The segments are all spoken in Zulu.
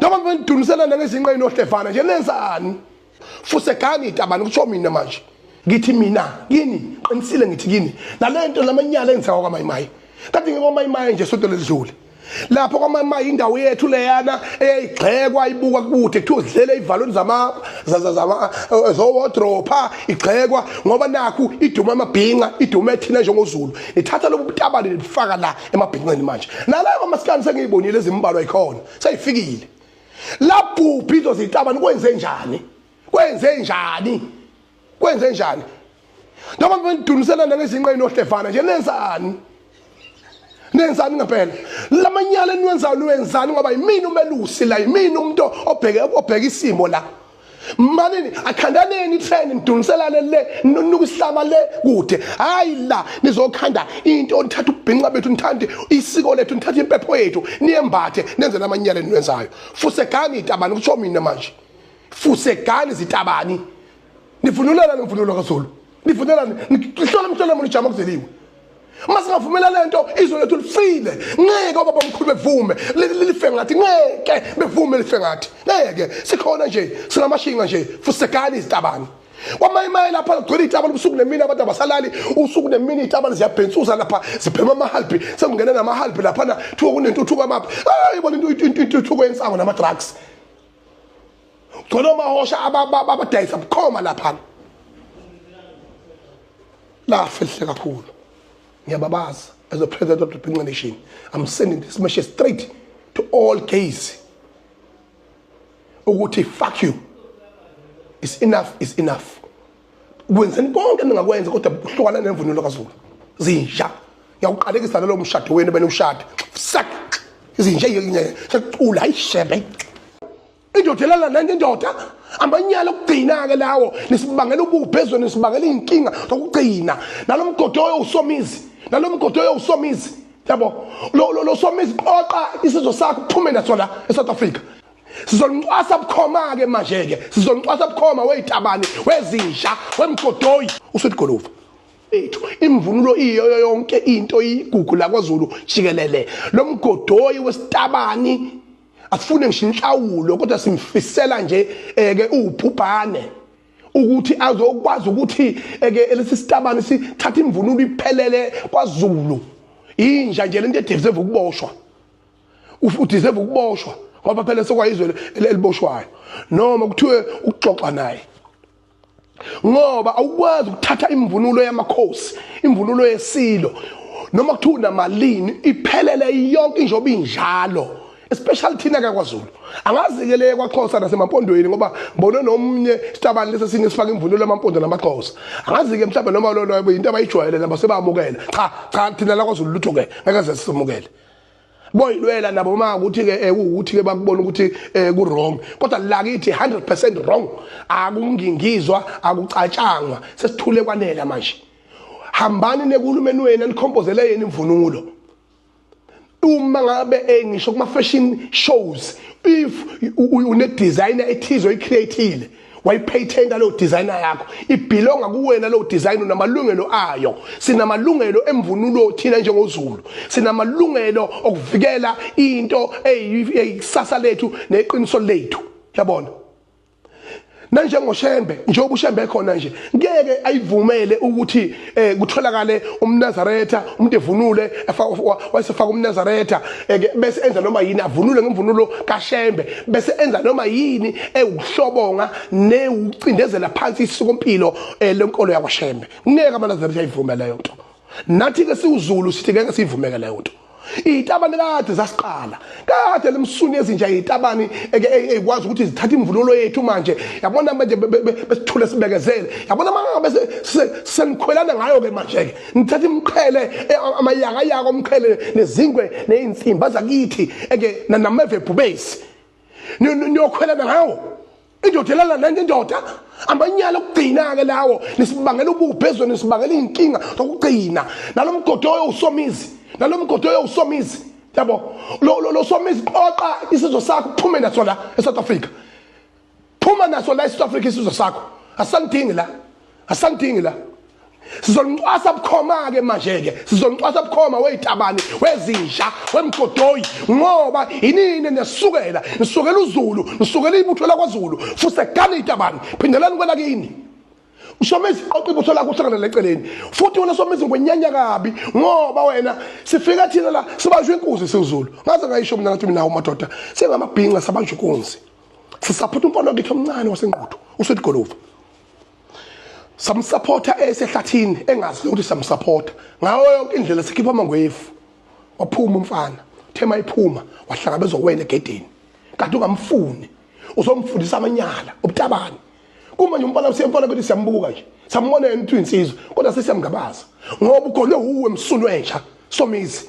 noma benidunusela nangezinqa inohlevana nje nenzani fuse gani itabani kusho mina manje ngithi mina kini qinisile ngithi kini nalento lamanyala engisawa kwamayimayi kade ngikwamayimayi nje sonto ledlule lapho kwamayimayi indawo yethu leyana eyayigxekwa ibuka kude kuthiwa zidlele ivalweni zama eh, zowodropha igxekwa ngoba nakhu iduma amabhinca iduma ethina njengozulu nithatha lobu butabane nibufaka la emabhinqeni manje nalayo mamasikani sengiyibonile ezimbalwa ikhona seyifikile labhubhi izo zitabani kwenze njani kwenze njani kwenze njani noma benidunusela nangezinqa inohlevana nje nenzani nenzani ngempela lamanyala eniwenzayo niwenzani ngoba yimini umelusi la yimini umuntu obheke obheka isimo la manini akhandaneni itheni niduniselane le nunuka isihlama le kude hayi la nizokhanda into nithatha ubhinqa bethu nithande isiko lethu nithatha impepho yethu niyembathe nenze namanyala eniwenzayo fusegani itabani kutsho mina manje fusegani zitabani nivunulela nemvunulo kazulu nivumelane ngihlole mhlole muni jama kuzeliwe uma singavumela le nto izwe lethu lifile ngeke obaba omkhulu bevume life ngathi ngeke bevume life ngathi ngeke sikhona nje sinamashinga nje futhi sekani izitabane kwamanye imaye lapha kugcwele iy'tabane ubusuku nemini abantu abasalali usuku nemini iy'tabane ziyabhensuza lapha ziphema amahalibhi sekungena namahalibhi laphana kuthiwa kunentuthuko amaphi ayi bona intuthuko yensango nama-drugs khona omahosha abadayisa bukhoma laphana lafihle kakhulu ngiyababaza as a president of the Pinga Nation I'm sending this message straight to all gays ukuthi fuck you is enough is enough kwenzeni konke ningakwenza kodwa buhlukana nemvunulo kaZulu zinja ngiyawuqalekisa nalo mshado wenu benu ushada sak izinja yecula ayishebe indoda elala nenye indoda amanyala okugcina-ke lawo nisibangela ububhe ezweni nisibangela iy'nkinga zokugcina nalo mgodi oyowusomizi nalo mgodi oyowusomizi yabo lo somizi qoqa isizwe sakho kuphume naso la e-south africa sizonicwasa bukhoma-ke manje-ke sizonicwasa bukhoma weyitabane wezinja wemgodoyi usuthi goluva ethu imvunulo iyoyo yonke into iyigugu lakwazulu jikelele lo mgodoyi wesitabani afune ngisho inhlawulo kodwa simfisela nje eh, ke ubhubhane ukuthi azokwazi ukuthi eh, ke lesi sitabane sithatha imvunulo iphelele kwaZulu inja nje lento edeserve ukuboshwa udeserve ukuboshwa ngoba phela sokwayizwe eliboshwayo noma kuthiwe ukuxoxa naye ngoba awukwazi ukuthatha imvunulo yamakhosi imvunulo yesilo noma kuthiwa unamalini iphelele yonke injoba injalo especially thina kakwaZulu angazi-ke le kwaXhosa nasemampondweni ngoba ngibone nomunye sitabani lesi esinye sifaka imvunulo yamampondo namaXhosa angazi-ke mhlawumbe noma lolo yinto abayijwayele nabo sebamukela cha cha thina lakwaZulu lutho-ke ngeke ze sisamukele boyilwela nabo ma ukuthi ke eh, ukuthi ke bakubona ukuthi eh, ku wrong kodwa lakithi 100% wrong akungingizwa akucatshangwa sesithule kwanela manje hambani nekulumeni wenu enikhompozele yena imvunulo uma ngabe eh, ngisho kuma fashion shows if une designer ethizo icreative wayipatent leyo designer yakho ibhilonga kuwena leyo design unamalungelo ayo sinamalungelo emvunulo thina njengozulu sinamalungelo okuvikela into eyikusasa lethu neqiniso lethu yabona nanjengoshembe njengoba ushembe khona nje ngeke ayivumele ukuthi eh kutholakale umnazaretha umuntu evunule wayesefaka umnazaretha eh, bese enza noma yini avunule ngemvunulo kashembe bese enza noma yini ewuhlobonga newucindezela phansi isikompilo eh, lenkolo yakwashembe ngeke amanazaretha ayivume leyo nto nathi ke siwuzulu sithi ngeke siyivumeke leyo nto iyitabane kade zasiqala kade lemsuni ezinja iyitabane ekwazi ukuthi zithatha imvunulo yethu manje yabona manje besithule sibekezele yabona mangabe senikhwelana ngayo-ke manje-ke nithatha imqhele e, amayakayaka omqhele nezingwe neyinsimba zakithi eke nameve bhubesi niyokhwelana ngawo indoda elala nenye indoda amanyala okugcina-ke lawo nisibangela ubuphi ezweni nisibangela iy'nkinga zokugcina nalo mgodi oyo usomizi nalo mgodi oyo usomizi yabo lo somizi qoqa isizwe sakho uphume naso la esouth africa phuma naso la esouth africa isizwe sakho asisangidingi la asamdingi la sizolincwasa bukhoma ke manje ke sizolincwasa bukhoma wezitabane wezinja wemgodoyi ngoba inini nesukela nisukela uzulu nisukela ibutho lakwaZulu fuse gani itabane phindelani kwela kini ushomisa iqoqa ibutho lakho uhlangana leceleni futhi wena somisa ngwenyanya kabi ngoba wena sifika thina la sibanjwe inkuzi siwuzulu ngaze ngayisho mina ngathi mina umadoda singamabhinca sabanjwe inkunzi sisaphutha umfana wakhe omncane wasenquthu usethi golova samsupporta esehlathini engazi ukuthi samsupporta ngawo yonke indlela sikhipha amangwefu waphuma umfana thema iphuma wahlangabezwa wena egedini kanti ungamfuni uzomfundisa amanyala ubutabani kumanje umfana usiyemfana bethi siyambuka nje sambona yena ukuthi insizwe kodwa sesiyamngabaza ngoba ugonwe uwe msunu entsha somizi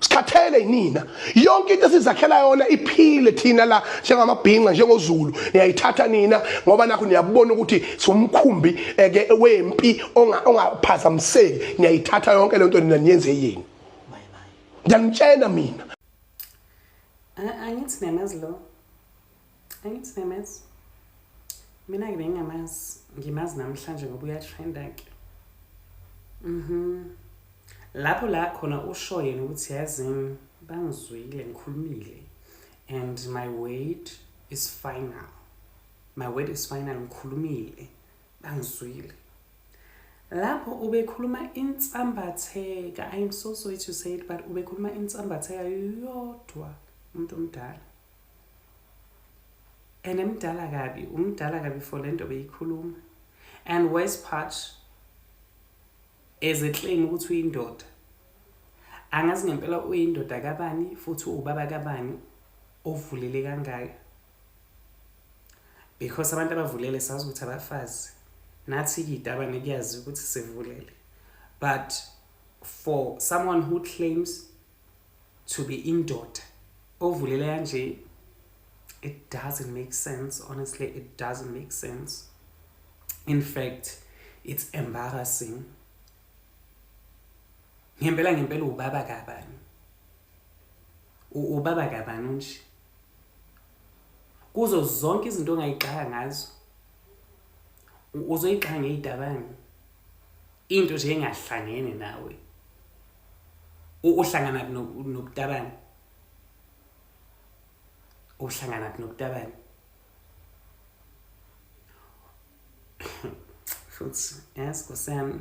sikhathele yinina yonke into esizakhela yona iphile thina la njengamabhinca njengozulu niyayithatha nina ngoba nakho niyabona ukuthi siwumkhumbi eke eh, wempi ongaphazamiseki niyayithatha yonke lento nina niyenze yini ngiyanitshena mina angithi niyamazi lo Angithi nemesi. Mina ke bengingamazi, ngimazi namhlanje ngoba uyatrenda ke. Mhm. Lapho la khona usho yena ukuthi yazini bangizwile ngikhulumile and my word is final. My word is final ngikhulumile bangizwile. Lapho ubekhuluma insambatheka, I'm so sorry to say it but ubekhuluma insambatheka yodwa umuntu omdala. and emdala kabi umdala kabi for le nto beyikhuluma and worse part as a claim ukuthi uyindoda angazi ngempela uyindoda kabani futhi uwubaba kabani ovulele kangaka because abantu abavulele sazi ukuthi abafazi nathi kidabane kuyazi ukuthi sivulele but for someone who claims to be indoda ovulela kanje it doesn't make sense honestly it doesn't make sense in fact it's embarrassing ngempela ngempela ubaba kabani ubaba kabani unje kuzo zonke izinto ongayigxaka ngazo uzoyigxaka ngeyidabani into nje engahlangene nawe uhlangana nokutabani uhlangana nokutabani futhi yes kusami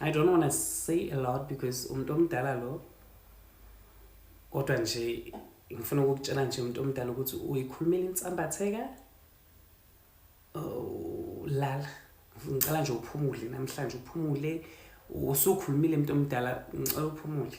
i don't want to say a lot because umuntu omdala lo kodwa nje ngifuna ukukutshela nje umuntu omdala ukuthi uyikhulumela insambatheka oh, lala ngicela nje uphumule namhlanje uphumule usukhulumile mntu omdala ngicela uphumule